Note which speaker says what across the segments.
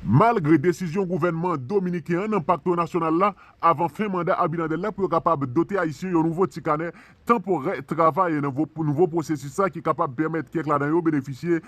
Speaker 1: Malgre desizyon gouvènman dominiken an nan Pakto Nasyonal la, avan fen manda Abinader la pou yo kapab dote Ayisyen yon nouvo ti kanè tanporè travay nan nouvo pwosesis sa ki kapab pèmèt kèk ladan yo benefisye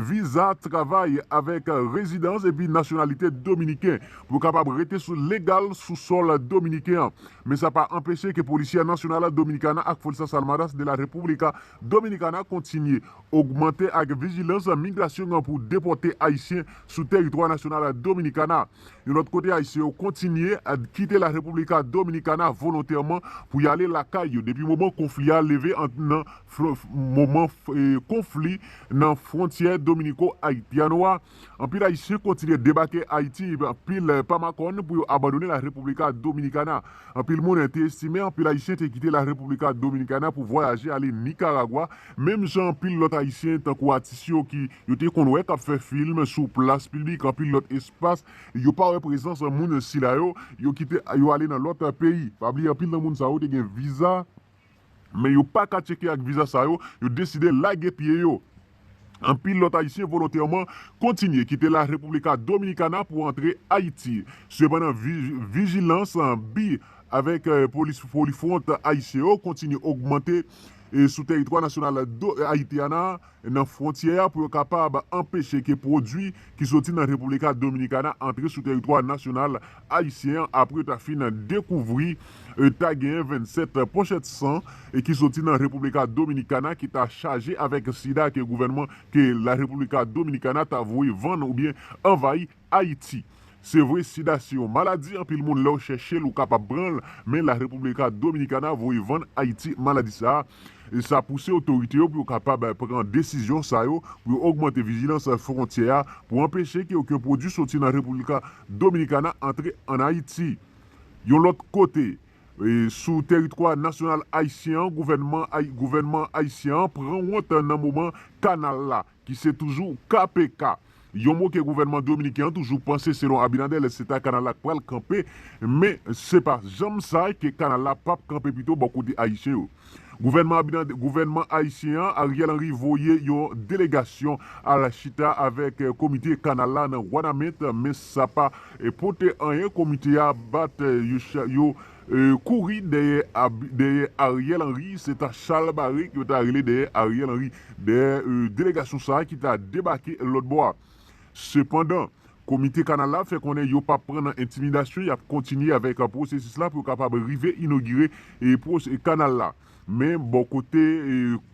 Speaker 1: viza travay avèk rezidans epi nasyonalite dominiken pou yo kapab rete legal sou sòl dominiken an. Men sa pa anpeche ke Policía Nacional Dominicana ak Fuerzas Armadas de la República Dominicana kontinye Ogmante ak vijilans migrasyon an pou depòte Ayisyen sou teritwa nasyonal Dominikana. Yon lòt kote Ayisyen yo kontinye kite la República Dominicana volontèman pou y ale lakay yo depi moman konfli a leve ant nan moman konfli nan fwontyè Dominico-Haitiano a, Anpil Ayisyen kontinye debake Ayiti, anpil pa makòn pou yo abandone la República Dominicana. Anpil moun te estime anpil Ayisyen te kite la República Dominicana pou vwayaje ale Nikaragwa, menm jan anpil lòt Ayisyen tankou atis yo ki yo te konn wè k ap fè film sou plas piblik, anpil lòt espas, yo pa wè prezans moun sila yo, yo kite yo ale nan lòt peyi. Pa bliye anpil nan moun sa yo te gen viza Men yo pa ka tcheke ak viza sa yo, yo deside lage pye yo. Anpil lòt ayisyen volontèman kontinye kite la República Dominicana pou antre Ayiti. Sepandan vijilans bi avèk polis polifwont ayisyen yo kontinye ogmante sou tèritwa nasyonal Haitiana. nan fwontyè a pou yo kapab anpeche ke pwodui ki soti nan República Dominicana antre sou teritwa nasyonal ayisyen an apre yo ta fin dekouvri ta genyen 27 pochèt san ki soti nan República Dominicana ki ta chaje avèk sida ke gouvènman ke la República Dominicana ta voye vann oubyen anvayi Ayiti. Se vre sida se yon maladi anpil moun lèw chèchel ou kapab pranl men la República Dominicana voye vann Ayiti maladi sa e sa pouse otorite yo pou yo kapab pran desizyon sa yo pou yo ogmante vijilans fwontyè a pou anpeche ke oken pwodwi soti nan República Dominicana antre an Ayiti. Yon lòt kote, sou teritwa nasyonal ayisyen an gouvènman gouvènman ayisyen an pran wont nan moman kanal la ki se toujou KPK, yon mo ke gouvènman dominiken an toujou panse selon Abinader lè se ta kanal la k pral kanpe men se pa janm sa ke kanal la p ap kanpe pito bò kote ayisyen yo. Gouvènman Abinader gouvènman ayisyen an Ariel Henry voye yon delegasyon al chita avèk komite kanal la nan Wanament men sa pa pote anyen komite a bat yo Kouri dèyè dèyè Ariel Henry se ta chal bare yo ta rele dèyè Ariel Henry dèyè delegasyon sa ki ta debake lòt bò a. Sepandan, komite kanal la fè konnen yo pap pran nan entimidasyon yap kontinye avèk pwosesis la pou yo kapab rive inogire kanal la. Men, bò kote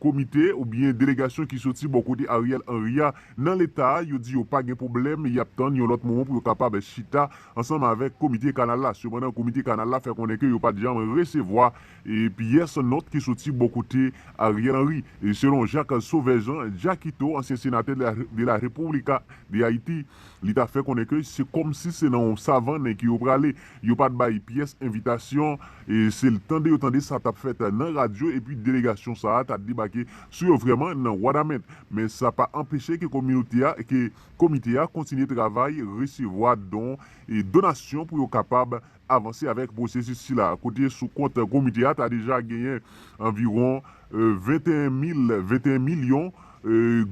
Speaker 1: komite oubyen delegasyon ki soti bò kote Ariel Henry a nan leta a, yo di yo pa gen pwoblèm, y ap tann yon lòt moman pou yo kapab chita ansanm avèk komite kanal la. Sepandan, komite kanal la fè konnen ke yo pa t janm resevwa pyès nòt ki soti bò kote Ariel Henry. Selon Jacques Sauveur Jean, Jackito, ansyen senatè de la República de Haiti, Li ta fè konnen ke se kòmsi se nan yon savannen ke yo prale. Yo pa t bay pyès envitasyon. Se tande yo tande sa t ap fèt nan radyo epi delegasyon sa a ta debake sou yo vrèman nan Wanament. Men sa pa anpeche ke kominote a, ke komite a kontinye travay, resevwa don, donasyon pou yo kapab. avanse avèk pwosesis sila a kote sou kont komite a ta deja genyen anviwon 21 mil 21 milyon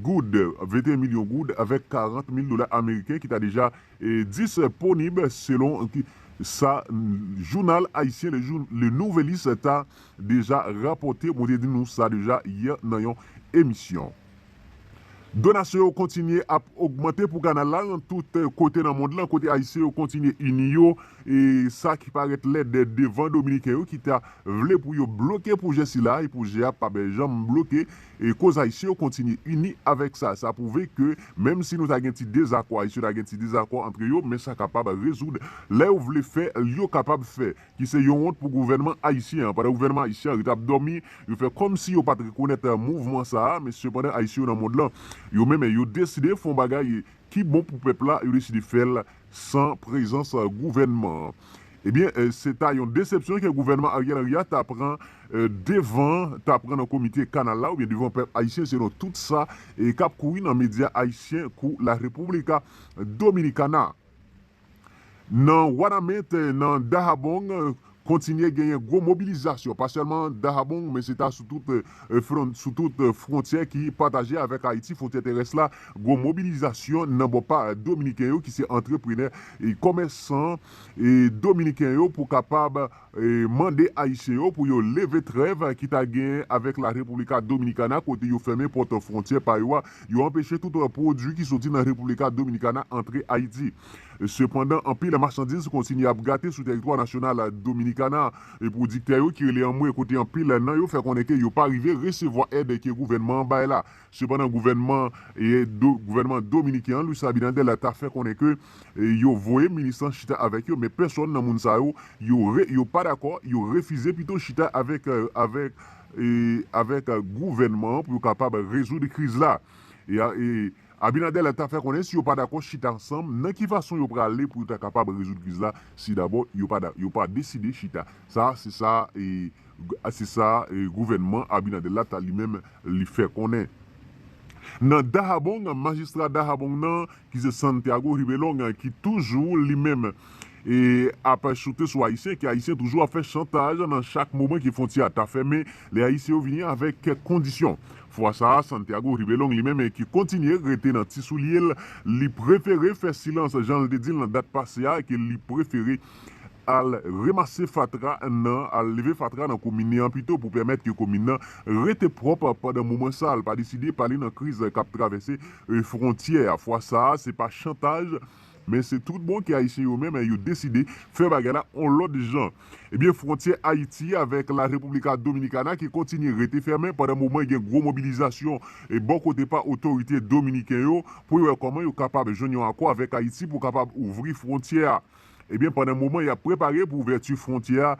Speaker 1: goud 21 milyon goud avèk 40 mil dola ameriken ki ta deja disponib selon sa jounal ayisyen Le Nouvelliste ta deja rapòte mwen te di nou sa deja yè nan yon emisyon. Donasyon yo kontinye ap ogmante pou kanal la nan tout kote nan mond lan kote ayisyen yo kontinye ini yo e sa ki parèt lèd devan dominiken yo ki ta vle pou yo bloke pwojè sila e pwojè a pap janm bloke e koz ayisyen yo kontinye ini avèk sa sa pwouve ke menm si nou ta gen ti dezakò ayisyen ta gen ti dezakò antre yo men sa kapab rezoud lè yo vle fè yo kapab fè. ki se yon wont pou gouvènman ayisyen an. Pandan gouvènman ayisyen an rete ap dòmi, yo fè kòmsi yo pa t rekonèt mouvman sa a, men sepandan ayisyen yo nan mond lan, yo menm yo deside fè yon bagay ki bon pou pèp la, yo deside fè l san prezans gouvènman an. Ebyen, se ta yon desepsyon ke gouvènman Ariel Henry a ta pran devan, ta pran nan komite kanal la oubyen devan pèp ayisyen selon tout sa k ap kouri nan medya ayisyen kou La República Dominicana. Nan Wanament, nan Dahabong, kontinye genyen gwo mobilizasyon, pa sèlman Dahabong, men se ta sou tout fwontyè ki pataje avèk Ayiti, fwontyè terès la, gwo mobilizasyon nan bò pa Dominiken yo ki se antreprenè, komèsan Dominiken yo pou kapab mande ayisyen yo pou yo leve trèv ki ta genyen avèk la República Dominicana kote yo fèmen pòt fwontyè pa yo a, yo anpeche tout pwodui ki soti nan República Dominicana antre Ayiti. Sepandan anpil machandiz kontinye ap gate sou tèritwa nasyonal Dominikana a, pwodiktè yo ki rele anmwe kote anpil nan yo fè konnen ke yo pa rive resevwa èd ke gouvènman an bay la. Sepandan gouvènman gouvènman dominiken an Luis Abinader la ta fè konnen ke yo voye minis lan chita avèk yo men pèsòn nan moun sa yo yo re yo pa dakò yo refize pito chita avèk avèk avèk gouvènman an pou yo kapab rezoud kriz la e Abinader la ta fè konnen si yo pa dakò chita ansanm nan ki fason yo prale pou yo ta kapab rezoud kriz la si dabò yo pa yo pa deside chita sa se sa e Se sa gouvènman Abinader la ta li menm li fè konnen. Nan Dahabong, majistra Dahabong nan ki se Santiago Hibelong ki toujou li menm ap choute sou Ayisyen, ke Ayisyen toujou ap fè chantaj nan chak moman ke fwontyè a ta fèmen, lè Ayisyen yo vini avèk kèk kondisyon. Fwa sa a, Santiago Hibelong li menm ki kontinye rete nan ti soulye l, li prefere fè silans jan l te di l nan dat pase a ke li prefere Al remase fatra nan al leve fatra nan komine an pito pou pèmèt ke komin nan rete pwòp pandan moman sa al pa deside pale nan kriz kap travèse fwontyè a fwa sa a se pa chantaj men se tout bon ke ayisyen yo menm yo deside fè bagay la on lòt jan ebyen fwontyè ayiti avèk la república dominicana ki kontinye rete fèmen pandan moman gen gwo mobilizasyon bò kote pa otorite dominiken yo pou yo wè kòman yo kapab jwenn yon akò avèk ayiti pou kapab ouvri fwontyè a. Ebyen pandan moman yap prepare pou ouvèti fwontyè a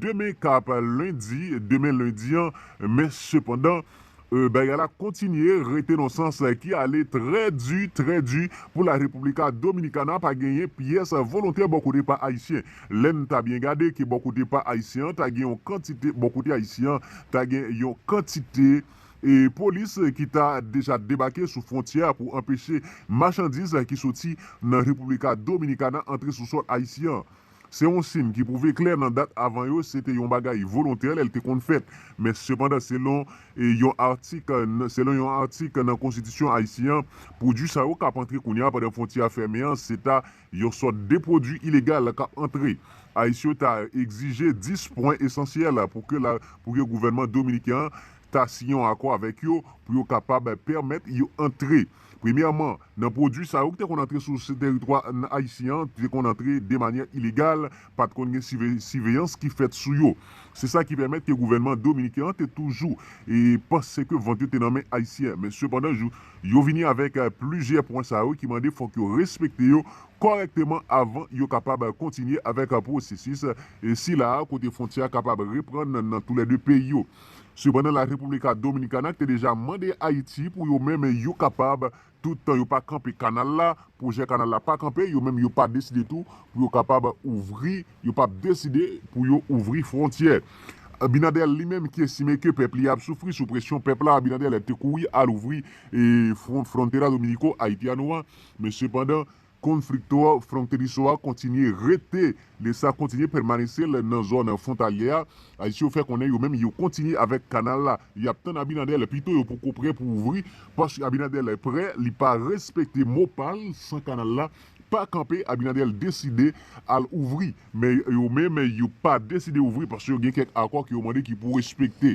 Speaker 1: demen kap lendi demen lendi an men sepandan bagay la kontinye rete nan sans ki ale trè di trè di pou la República Dominicana pa genyen pyès volontè bò kote pa ayisyen lèn ta byen gade ke bò kote pa ayisyen an ta gen yon kantite bò kote ayisyen an ta gen yon kantite e polis ki ta deja debake sou fwontyè a pou anpeche machandiz ki soti nan República Dominicana antre sou sòl ayisyen an. Se yon sin ki pwouve klè nan dat avan yo se te yon bagay volontè lè l te konn fèt, men sepandan selon yon atik selon yon atik nan konstitisyon ayisyen an, pwodui sa yo k ap antre kounye a pandan fwontyè a fèmen an se ta yon sòt de pwodui ilegal k ap antre. Ayisyen yo ta egzije 10 pwen esansyèl pou ke pou ke gouvènman dominiken an ta siyen yon akò avèk yo pou yo kapab pèmèt yo antre. Premyèman, nan pwodui sa yo ki te konn antre sou teritwa ayisyen an, te konn antre de manyè ilegal, pa t konn gen siveyans ki fèt sou yo. Se sa ki pèmèt ke gouvènman dominiken an te toujou panse ke vant yo te nan men ayisyen. Men sepandan, yo vini avèk plizyè pwen sa yo ki mande fòk yo respekte yo kòrèkteman avan yo kapab kontinye avèk pwosesis sila a kote fwontyè a kapab reprann nan tou lè de peyi yo. Sepandan La República Dominicana te deja mande Ayiti pou yo menm yo kapab, tout tan yo pa kanpe kanal la, pwojè kanal la pa kanpe, yo menm yo pa deside tou pou yo kapab ouvri, yo pa deside pou yo ouvri fwontyè. Abinader li menm ki estime ke pèp li ap soufri sou presyon pèp la, Abinader te kouri al ouvri frontera Dominico-Haitiano a, men sepandan, Konflikto fronteriso a kontinye rete lè sa kontinye pèmanese lè nan zòn fwontalyè a, Ayisyen yo fè konnen yo menm yo kontinye avèk kanal la, y ap tann Abinadèl pito yo poko prè pou ouvri paske Abinadèl prè li pa respekte mo pa l san kanal la pa kanpe Abinadèl deside al ouvri men yo menm yo pa deside ouvri paske yo gen kèk akò ke yo mande ki pou respekte.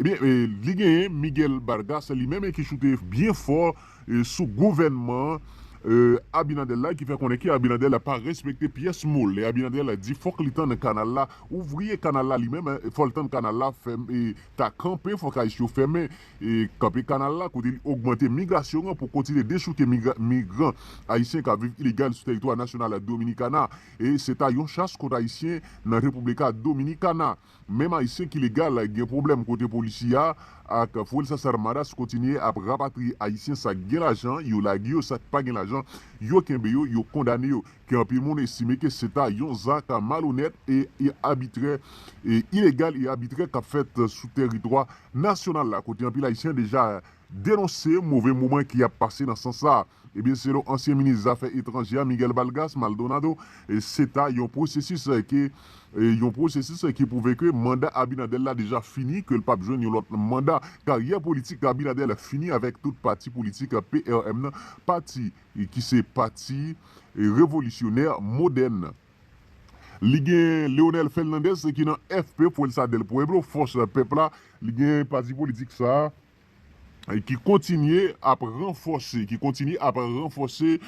Speaker 1: Ebyen li genyen Miguel Barga se li menm ki choute byen fò sou gouvènman Abinader la ki fè konnen ke Abinader la pa respekte pyès mo lè Abinader la di fòk li tann kanal la ouvri e kanal la li menm fò l tann kanal la ta kanpe fòk ayis yo fèmen kanpe kanal la kote li ogmante migrasyon an pou kontinye dechouke migran ayisyen k ap viv ilegal sou teritwa nasyonal Dominikana e se ta yon chas kont ayisyen nan República Dominicana. Menm Ayisyen ki legal gen pwoblèm kote Policía ak Fuerzas Armadas kontinye ap rapatriye Ayisyen sa k gen lajan yo lage yo sa k pa gen lajan yo kenbe yo yo kondane yo ke anpil moun estime ke se ta yon zak malonèt e abitrè e ilegal e abitrè k ap fèt sou tèritwa nasyonal la kote anpil Ayisyen deja denonse move moman ki ap pase nan sans sa. Ebyen selon ansyen minis zafè etranjè a Miguel Balgas Maldonado se ta yon pwosesis ke yon pwosesis ki pwouve ke manda Abinader la deja fini ke l pap jwenn yon lòt manda. Karyè politik Abinader fini avèk tout pati politik PRM nan, pati ki se pati revolisyonè modèn. Li gen Leonel Fernandez ki nan FP, Fuerza del Pueblo, Fòs Pèp la. Li gen pati politik sa a ki kontinye ap ranfòse, ki kontinye ap ranfòse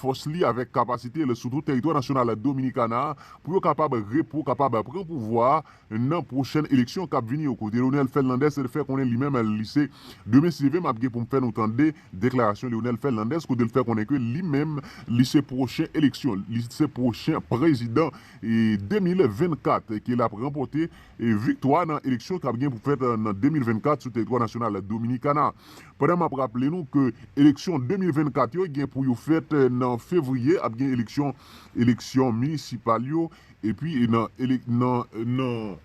Speaker 1: fòs li avèk kapasite l sou tout tèritwa nasyonal Dominikana a pou yo kapab re pou kapab pran pouvwa a nan pwochèn eleksyon k ap vini yo. Kote Leonel Fernandez fè konnen li menm li se demen se leve m ap gen pou m fè nou tande. Deklarasyon Leonel Fernandez kote l fè konnen ke li menm li se pwochen eleksyon li se pwochen prezidan 2024 ke lap ranpòte viktwa nan eleksyon kap gen pou fèt nan 2024 sou teritwa nasyonal Dominikana. Pandan map raple nou ke eleksyon 2024 yo gen pou yo fèt nan fevriye ap gen eleksyon eleksyon minisipal yo epi nan nan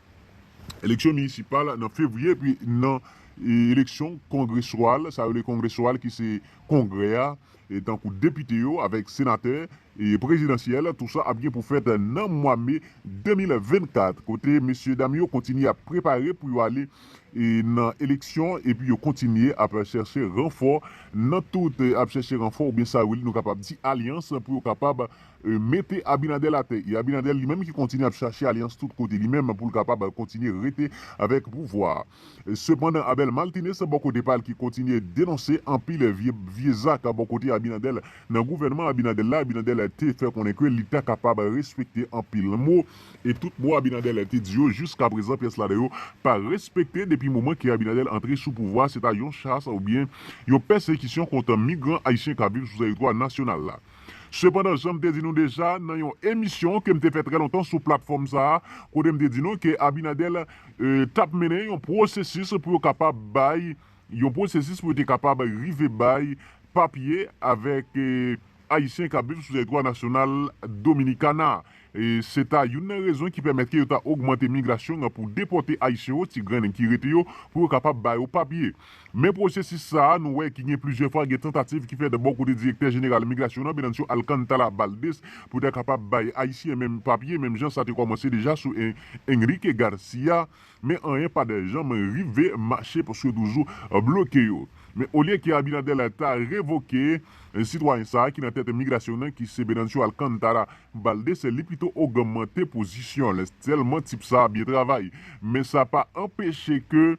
Speaker 1: eleksyon minisipal nan fevriye epi nan Eleksyon kongresyal, sa yo rele kongresyal ki se kongrè a, tankou depite yo avèk senatè, e prezidansyèl, tou sa ap gen pou fèt nan mwa me 2024, kote mesyedam yo kontinye ap prepare pou yo ale nan eleksyon epi yo kontinye ap chèche ranfò nan tout, ap chèche ranfò oubyen sa yo rele nou kapab di alyans pou yo kapab mete Abinadèl atè. E Abinadèl li menm ki kontinye ap chache alyans tout kote li menm pou l kapab kontinye rete avèk pouvwa a. Sepandan Abel Martinez bò kote pa l ki kontinye denonse anpil vye zak bò kote Abinader nan gouvènman Abinader la, Abinader te fè konnen ke li ta kapab respekte anpil mo e tout mo Abinader te di yo jiska prezan pyès ladan yo pa respekte depi moman ke Abinader antre sou pouvwa se ta yon chas oubyen yon pèsekisyon kont migran ayisyen k ap viv sou tèritwa nasyonal la. Sepandan, jan m te di nou deja nan yon emisyon ke m te fè trè lontan sou platfòm sa a, kote m te di nou ke Abinader t ap mennen yon pwosesis pou yo kapab bay, yon pwosesis pou yo te kapab rive bay papye avèk Ayisyen k ap viv sou tèritwa nasyonal Dominikana. Se ta youn nan rezon ki pèmèt ke yo ta ogmante migrasyon an pou depòte Ayisyen yo, ti grennen ki rete yo, pou yo kapab ba yo papye. Men pwosesis sa a, nou wè ki gen plizyè fwa gen tantativ ki fèt bò kote Direktè Jeneral Migrasyon an, Venancio Alcántara Valdés, pou ta kapab bay Ayisyen menm papye, menm jan sa te kòmanse deja sou Enrique García, men anyen pa t janm rive mache paske yo toujou bloke yo. Men olye ke Abinader ta revoke sitwayen sa a ki nan tèt migrasyon an ki se Venancio Alcántara, M pral dese li pito ogmante pozisyon l tèlman tip sa byen travay. Men sa pa anpeche ke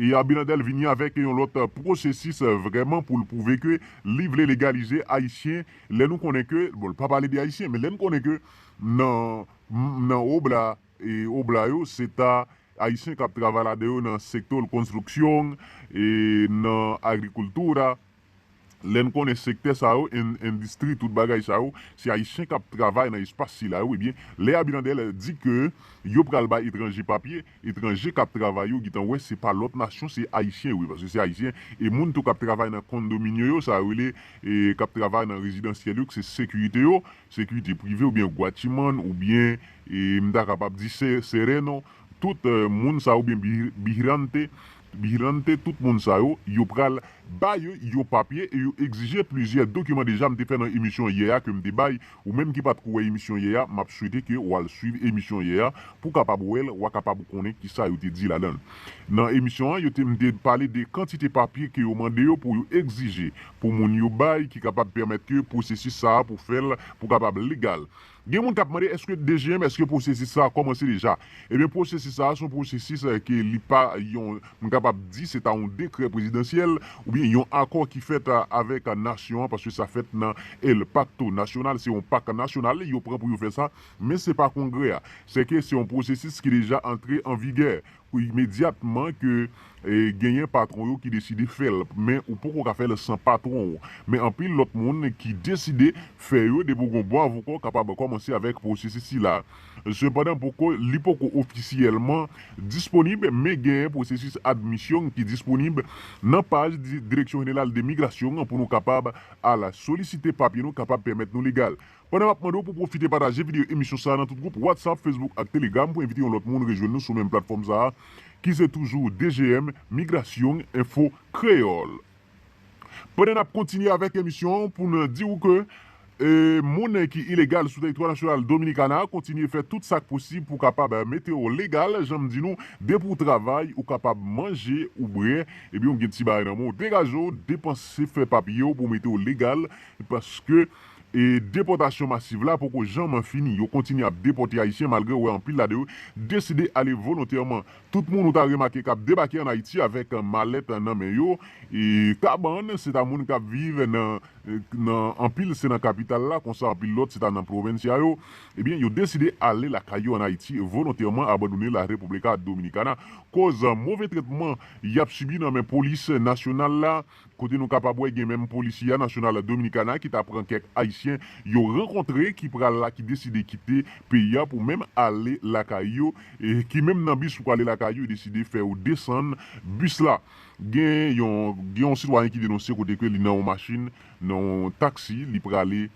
Speaker 1: e Abinader vini avèk yon lòt pwosesis vrèman pou l pwouve ke li vle legalize Ayisyen lè nou konnen ke bon l pa pale de Ayisyen men lè n konnen ke nan nan obla e obla yo se ta Ayisyen k ap travay ladan yo nan sector construcción e nan agricultura. Lè n konnen sektè sa yo, en, endistri, tout bagay sa yo, se Ayisyen k ap travay nan espas sila yo, ebyen, lè Abinader di ke yo pral bay etranje papye, etranje k ap travay yo gentan wè se pa lòt nasyon, se Ayisyen yo ye, paske se Ayisyen, e moun tou k ap travay nan kondominyo yo, sa yo rele, e, k ap travay nan rezidansyèl yo, k se sekirite yo, sekirite prive oubyen gwachimann oubyen, e, m ta kapab di se, sereno, tout, moun sa yo oubyen, bi, bijrante. Vigilante tout moun sa yo, yo pral bay yon papye e yo egzije plizyè dokiman deja m te fè nan emisyon yè a ke m te bay ou menm ki patko wè emisyon yè a map swete ke wal swiv emisyon yè a pou kapab wèl wa kapab konnen kisa yo te di ladan l nan emisyon an yo te m te pale de kantite papye ke yo mande yo pou yo egzije pou moun yo bay ki kapab pèmèt ke pwosesis sa pou fèl pou kapab legal Gen moun kap mande eske DGM eske pwosesis sa kòmanse deja? Ebyen pwosesis sa a son pwosesis ke li pa yon m kapab di se ta yon dekrè prezidansyèl oubyen yon akò ki fèt avèk nasyon an paske sa fèt nan El Pacto Nacional se yon pak nasyonal yo pran pou yo fè sa men se pa kongrè a se ke se yon pwosesis ki deja antre an vigè Imedyatman ke genyen patwon yo ki deside fè l, men ou poko ka fè l san patwon w. Men anpil lòt moun ki deside fè yo depi w gen yon bon avoka w kapab kòmanse avèk pwosesis sila. Sepandan poko li poko ofisyèlman disponib men genyen pwosesis admisyon ki disponib nan paj Direksyon Jeneral de Migrasyon pou nou kapab al solisite papye nou kapab pèmèt nou legal. Pandan map mande w pou pwofite pataje videyo emisyon sa a nan tout gwoup Whatsapp, Facebook ak Telegram pou envite yon lòt moun rejwenn nou sou menm platfòm sa a ki se toujou DGM, Migrasyong Enfo Kreyòl. Pandan nap kontinye avèk emisyon an pou n di w ke monnen ki ilegal sou teritwa nasyonal Dominikana kontinye fè tout sak posib pou kapab mete w legal jan m di nou depi w travay ou kapab manje ou bre ebyen w gen ti bagay nan men w degaje w depanse fè papye w pou mete w legal paske E depòtasyon masiv la poko janman fini. Yo kontinye ap depòte Ayisyen malgre ou wè anpil la de yo deside ale volontèman. Tout moun ou ta remake k ap debake ann Ayiti avèk malèt nan men yo, kabann, se ta moun k ap viv nan nan anpil se nan kapital la, konsa anpil lòt se ta nan pwovensia yo. Ebyen yo deside ale lakay yo ann Ayiti volontèman abandone la República Dominicana koz move tretman y ap sibi nan men polis nasyonal la. Kote nou kapab wè gen menm Policia Nacional Dominicana ki ta pran kèk Ayisyen yo rankontre ki pral la ki deside kite peyi a pou menm ale lakay yo e ki menm nan bis pou prale lakay yo deside fè yo desann bis la. Gen yon gen yon sitwayen ki denonse kote ke li nan yon machin nan yon taksi li prale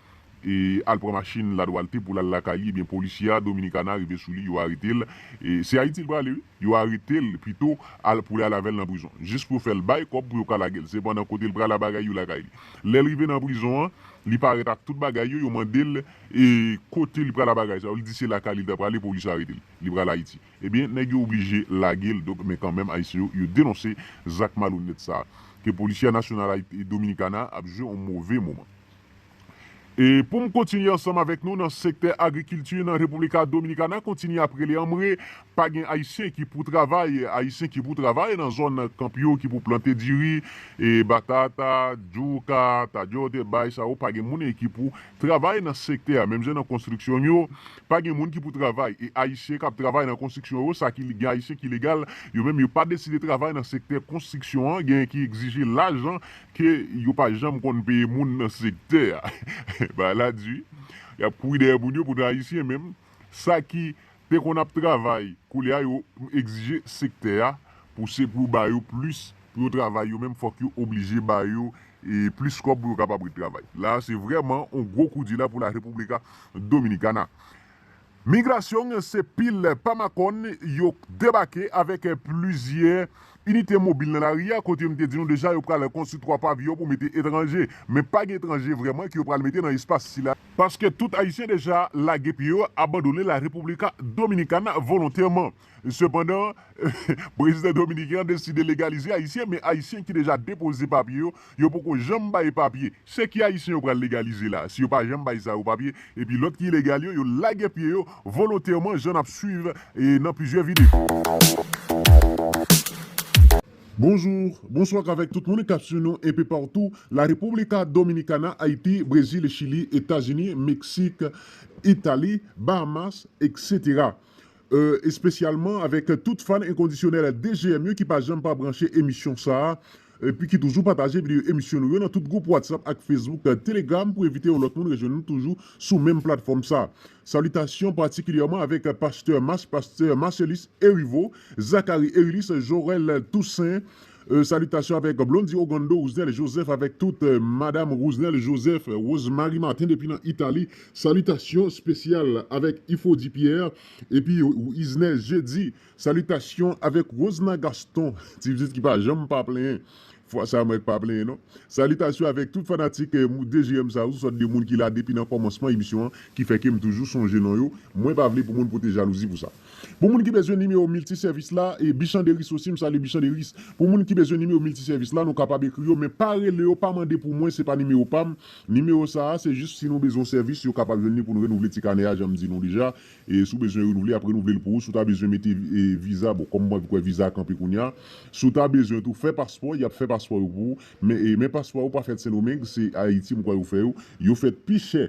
Speaker 1: e al pran machin la dualte poul al lakay li ebyen polisye a dominicana rive sou li yo aretel e se ayiti li prale wi yo aretel pito al poul al avèl nan prizon jis pou yo fèl bay kòb pou yo ka lagel sepandan kotel pral a bagay yo lakay li lèl rive nan prizon an li parèt ak tout bagay yo yo mandel e kote li pral a bagay sa yo li di se lakay li ta prale polis aretel li pral ayiti ebyen nèg yo oblije lagel donk men kanmenm ayisyen yo yo denonse zak malonèt sa ke polisye a nasyonal ayiti dominicana ap jwe yon move moman. E pou m kontinye ansanm avèk nou nan sektè agrikilti nan República Dominicana kontinye ap rele anmwe pa gen ayisyen ki pou travay ayisyen ki pou travay nan zòn kanp yo ki pou plante diri e batata juca tadyote bay sa yo pa gen moun ki pou travay nan sektè a menm jan nan konstriksyon yo pa gen moun ki pou travay e ayisyen k ap travay nan konstriksyon yo sa ki gen ayisyen ki legal yo menm yo pa deside travay nan sektè konstriksyon an gen ki egzije lajan Ke yo pa janm konn peye moun nan sektè a. Bagay la di wi. Yap kouri dèyè moun yo pou nou ayisyen menm sa ki te konn ap travay koulye a yo egzije sektè a pou se pou yo ba yo plis pou yo travay yo menm fòk yo oblije ba yo plis kòb pou yo kapab ret travay. La se vrèman yon gwo koudi la pou la República Dominicana. Migrasyon se pil pa makòn yo k debake avèk plizyè inite mobil nan lari a kote m te di nou deja yo pral konstwi 3 paviyon pou mete etranje men pa gen etranje vrèman ke yo pral mete nan espas sila paske tout ayisyen deja lage pye yo abandone la República Dominicana volontèman. Sepandan, prezidan dominiken an deside legalize ayisyen men ayisyen ki deja depoze papye yo, yo poko janm bay papye. Se ki ayisyen yo pral legalize la a si yo pa janm bay sa yo papye epi lòt ki ilegal yo, yo lage pye yo volontèman jan n ap swiv nan plizyè videyo. Bonjour, bonsoir avèk tout moun kap swiv nou enpe partou, la República Dominicana, Haiti, Brésil, Chili, Etazini, Mexique, Italie, Bahamas, etc. Espesyalman avèk tout fan enkondisyonèl DGM yo ki pa janm pa branche emisyon sa a, epi ki toujou pataje videyo emisyon nou yo nan tout gwoup Whatsapp ak Facebook, Telegram pou evite yon lòt moun rejwenn nou toujou sou menm platfòm sa. Salitasyon patikilyèman avèk Pastè Mas, Pastè Marcellus Heriveau, Zacharie Erilis, Jorel Toussaint, Salitasyon avèk Blondy Ogando Rousnel Joseph avèk tout Madam Rousnel Joseph Rose Marie Martin depi nan Italie Salitasyon spesyal avèk Ifodi Pierre epi Wisner Jeudi Salitasyon avèk Rosna Gaston ti pitit ki pa janm pa plenyen fwa sa mwen k pa plenyen non Salitasyon avèk tout fanatik DGM sa yo sou sòt de moun ki la depi nan kòmansman emisyon an ki fè ke m toujou sonje non yo mwen pa vle pou moun pote jalouzi pou sa. Pou moun ki bezwen nimewo miltisèvis la, Bichanderis osi, m salye Bichanderis. Pou moun ki bezwen nimewo miltisèvis la, nou kapab ekri yo, men pa rele yo, pa mande pou mwen, se pa nimewo pa m. Nimewo sa a, se jis si nou bezwen yon sèvis, yo kapab jwenn li pou nou renouvle ti kanè a, jan m di nou deja. Si w bezwen renouvle, y ap renouvle l pou ou. Si w ta bezwen mete viza, bon, kòm mwen vin kwè viza a kanpe kounye a. Si w ta bezwen tou fè paspò, y ap fè paspò yo pou ou. Men paspò yo pa fèt Sendomeng, se Ayiti m kwè yo fè yo. Yo fèt pi chè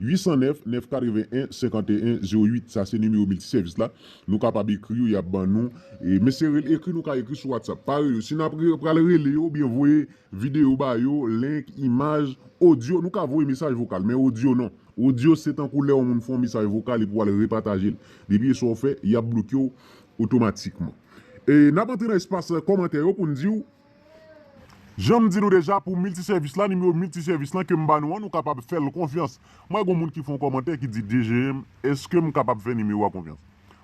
Speaker 1: 809 981 51 08 sa se nimewo multi service la nou kapab ekri yo yap ban nou e men se rele ekri nou ka ekri sou whatsapp pa rele yo si nap re pral rele yo oubyen voye video ba yo link imaj audio nou ka voye mesaj vokal men audio non audio se tankou lè yon moun fè yon mesaj vokal epi wal repatajel depi e sa ou fè yap blokew otomatikman e nap antre nan espas kòmantè yo poun diw. Janm di nou deja pou miltisèvis la nimewo miltisèvis lan kem ba nou an nou kapab fèl konfyans m wè gon moun ki fè yon kòmantè ki di DGM eskem kapab fè nimewo a konfyans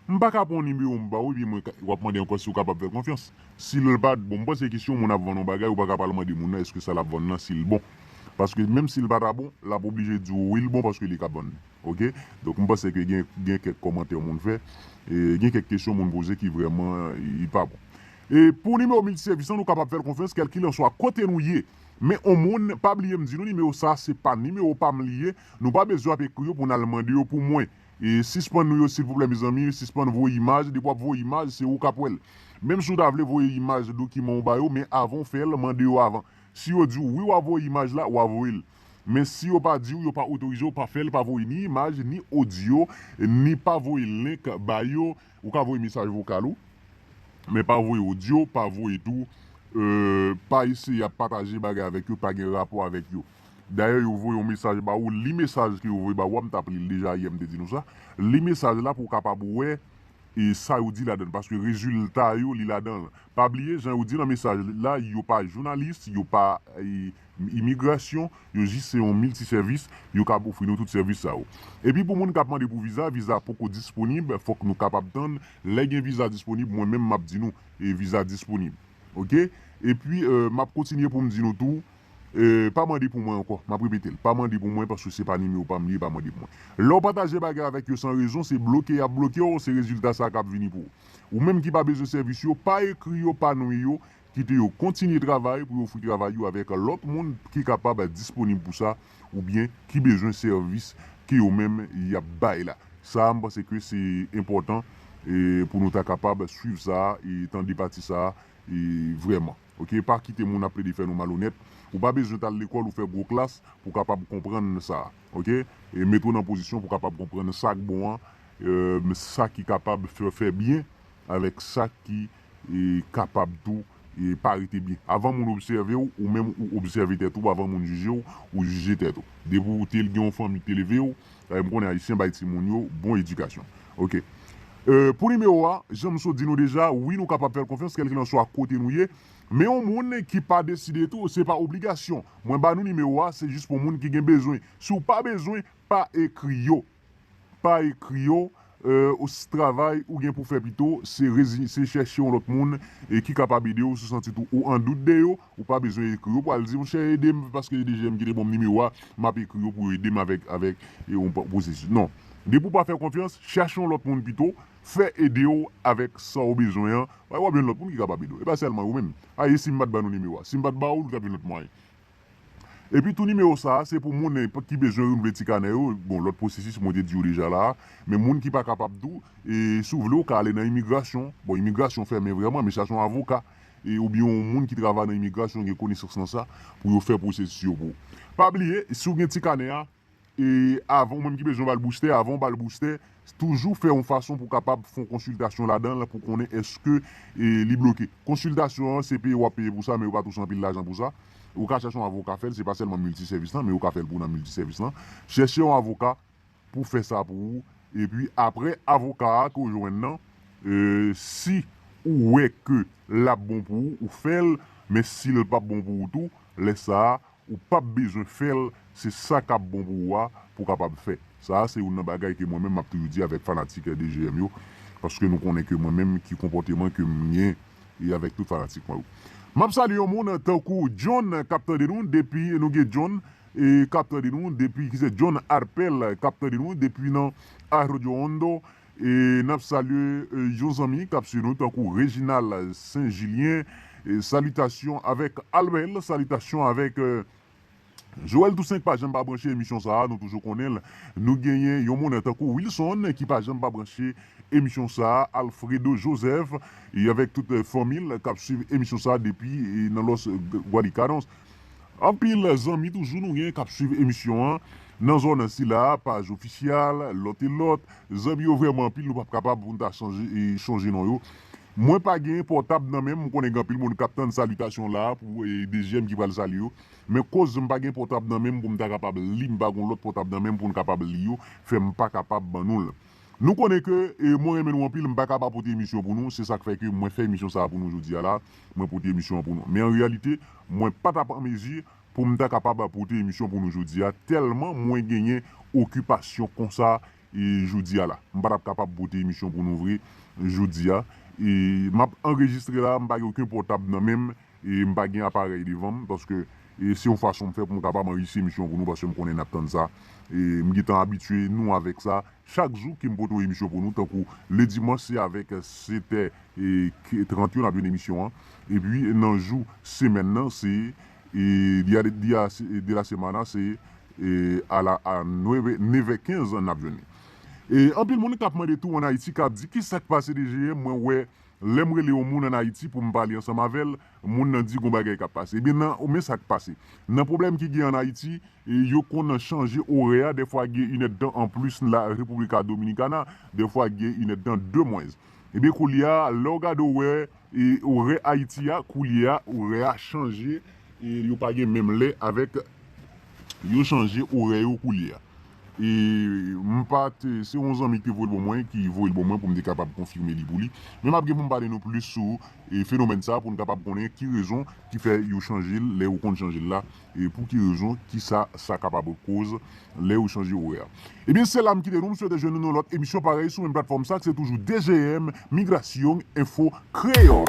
Speaker 1: m paka pran yon nimewo m baw epi mwen wap mande ankò siw kapab fèl konfyans sil pa bon m panse ke si yon moun ap vann yon bagay ou paka pa al mande moun nan eske sa lap vann nan sil bon paske menm sil pata bon lap oblije diw wi l bon paske li ka vann li ok donk m panse ke gen gen kèk kòmantè moun fè gen kèk kesyon moun poze ki vrèman li pa bon. E pou nimewo miltisevis lan nou kapab fèl konfyans kèlkilanswa kote nou ye. Men on moun pa bliyem di nou nimewo sa se pa nimewo pam li ye, nou pa bezwen ap ekri yo pou nal mande yo pou mwen. E sispann nou yo silvouplè mezanmi, sispann voye imaj, depi wap voye imaj se ou kap wèl. Menm si ou ta vle voye imaj dokiman ou bayo men avan ou fèl mande yo avan. Si yo diw wi wap voye imaj la wa voyel. Men si yo pa diw yo pa otorizew pa fèl pa voye ni imaj ni odyo ni pa voye link bayo. Ou ka voye mesaj vokal ou, men pa voye odyo, pa voye tou, pa eseye ap pataje bagay avèk yo pa gen rapò avèk yo. Dayè yo voye yon mesaj ba ou, li mesaj ke yo voye ba ou a, m tap li l deja yè m te di nou sa, li mesaj la pou w kapab wè e sa yo di ladan l paske rezilta yo li ladan l. Pa bliye jan yo di nan mesaj la yo pa jounalis, yo pa M Imigrasyon, yo jis se yon milti sèvis, yo kab ofri nou tout sèvis sa yo. Epi pou moun kap mande pou viza, viza poko disponib, fòk nou kapab tann, lè gen viza disponib mwen menm map di nou viza disponib ok. Epi map kontinye poum di nou tou pa mande pou mwen ankò, map repetel pa mande pou mwen paske se pa nimewo pam li ye pa mande pou mwen. Lèw pataje bagay avèk yo san rezon se bloke yap blokew se rezilta sa kap vini pou ou. Ou menm ki pa bezwen sèvis yo, pa ekri yo pa nwe yo, Kite yo kontinye travay pou yo ofri travay yo avèk lòt moun ki kapab disponib pou sa oubyen ki bezwen sèvis ke yo menm y ap bay la. Sa a m panse ke se enpòtan pou nou ta kapab swiv sa a e tande pati sa a vrèman. Ok, pa kite moun ap plede fè nou malonèt. Ou pa bezwen t al lekòl ou fè gwo klas pou w kapab konprann sa. Ok, mete w nan pozisyon pou w kapab konprann sa k bon an, sa ki kapab fè w fè byen avèk sa ki kapab tou pa rete byen. Avan moun obsève w, ou menm ou obsève tèt ou, avan moun jije w, ou jije tèt ou. Depi w te gen yon fanmi ki te leve w, m konnen Ayisyen bay timoun yo bon edikasyon. Ok. Pou nimewo a, jan m sot di nou deja, wi nou kapab fè l konfyans kèlkilanswa kote nou ye, men yon moun ki pa deside tou, se pa obligasyon. Mwen ba nou nimewo a, se jis pou moun ki gen bezwen. Si w pa bezwen, pa ekri yo. pa ekri yo ou si travay ou gen pou fè pito se rezi se chèche yon lòt moun e ki kapab ede ou si w santi tou ou an dout de yo ou pa bezwen ekri yo pral di monchè ede m paske edh m ki te ban m nimewo a m ap ekri yo pou yo ede m avèk avèk yon pwosesis non depi ou pa fè konfyans chache yon lòt moun pito fè ede w avèk sa w bezwen an paske w ap jwenn lòt moun ki kapab ede w e pa sèlman yo menm a e si m pa t ban nou nimewo a si m pa t ba w li t ap gen lòt mwayen. Epi tou nimewo sa a se pou moun ki bezwen renouvle ti kanè yo, bon lòt pwosesis mwen te di yo deja la a, men moun ki pa kapab tou e si w vle ou ka ale nan imigrasyon, bon imigrasyon fèmen vrèman men chache yon avoka e oubyen yon moun ki travay nan imigrasyon gen konesans nan sa pou yo fè pwosesis yo pou ou. Pa bliye si w gen ti kanè a, E avan ou menm ki bezwen bal boustè, avan ou bal boustè, toujou fè yon fason pou kapab fon konsiltasyon ladan l pou konnen eske li bloke. Konsiltasyon an se peye wap peye pou sa men yo pa touche anpil lajan pou sa. Ou ka chache yon avoka fè l, se pa sèlman milti sèvis lan men yo ka fè l pou w nan milti sèvis lan. Chèche yon avoka pou fè sa pou ou epi aprè avoka a ke w jwenn nan si ou wè ke lap bon pou ou, ou fè l men si l pap bon pou ou tou lè sa Ou pap bezwen fèl se sa kap bon pou ou a pou kapab fè. Sa a se youn nan bagay ke mwen menm map toujou di avèk fanatik RDGM yo paske nou konnen ke mwen menm ki konpòteman kem gen e avèk tout fanatik mwen yo. Map salye yon moun tankou John kap tande nou depi nou gen John e kap tande nou depi kise John Arpel kap tande nou depi nan Arroyo Hondo E nap salye yon zanmi kap swiv nou tankou Reginald Saint Julien salitasyon avèk Albert salitasyon avèk Joel Toussaint ki pa janm pa branche emisyon sa nou toujou konnenl nou genyen yon moune tankou Wilson ki pa janm pa branche emisyon sa Alfredo Joseph e avèk tout fanmil kap swiv emisyon sa depi nan los Guadicadons. Anpil zanmi toujou nou gen kap swiv emisyon an nan zòn sila paj ofisyal lòt e lòt zanmi yo vrèman anpil nou pap kapab poun ta chonje non yo mwen pa gen pòtab nan menm m konnen gen anpil moun kap tann salitasyon la pou dezyèm ki pral salye yo men koz m pa gen pòtab nan menm poum ta kapab li m pa gon lòt pòtab nan menm poun kapab li yo fèm pa kapab ban nou l. Nou konnen ke mwen renmen nou anpil, m paka pa pote emisyon an pou nou, se sak fè ke mwen fè emisyon sa a pou nou jodi a la, mwen pote emisyon an pou nou. Men an reyalite, mwen pa tap an mezi pou m ta kapab pote emisyon pou nou jodi a, tèlman mwen genyen okipasyon konsa jodi a la. M pa tap kapab pote emisyon pou nou vre jodi a. E map anrejistre la, m pa gen oken pòtab nan men m, E m pa gen aparèy devan m paske e se yon fason m fè pou m kapab anrejistre emisyon pou nou paske m konnen n ap tann sa. E m gentan abitye nou avèk sa. Chak jou ke m pote yon emisyon pou nou tankou le dimanch se avèk 7 è e 30 yo n ap jwenn emisyon an. Epi nan jou semèn nan se e dia de dia de la semana se e a la a nueve nevè kenz n ap jwenn li. E anpil moun k ap mande tou an Ayiti k ap di kisa k pase 2 jiyè mwen wè Lèm rele yon moun an Ayiti poum pale ansanm avèl, moun nan di gon bagay kap pase. Ebyen nan men sak pase. Nan pwoblèm ki gen an Ayiti, yo konn chanje orè a, dèfwa gen inèdtan anplis la República Dominicana, dèfwa gen inèdtan de mwens. Ebyen koulye a lèw gade orè orè Ayiti a koulye a orè a chanje e yo pa gen menm lè avèk yo chanje orè yo koulye a. E m pa te, se yon zanmi ki te voye l ban mwen, ki voye l ban mwen pou m te kapab konfime li pou li. Men m ap gen pou m pale nou plis sou fenomèn sa pou n kapab konnen ki rezon ki fè yo chanje l, lè yo konn chanje l la, e pou ki rezon, ki sa sa kapab koz lè yo chanje orè a. Ebyen se la m kite nou, m swete jwenn nou nan yon lòt emisyon parèy sou menm platfòm sa k se toujou DGM, Migrasyong Enfo Kreyòl.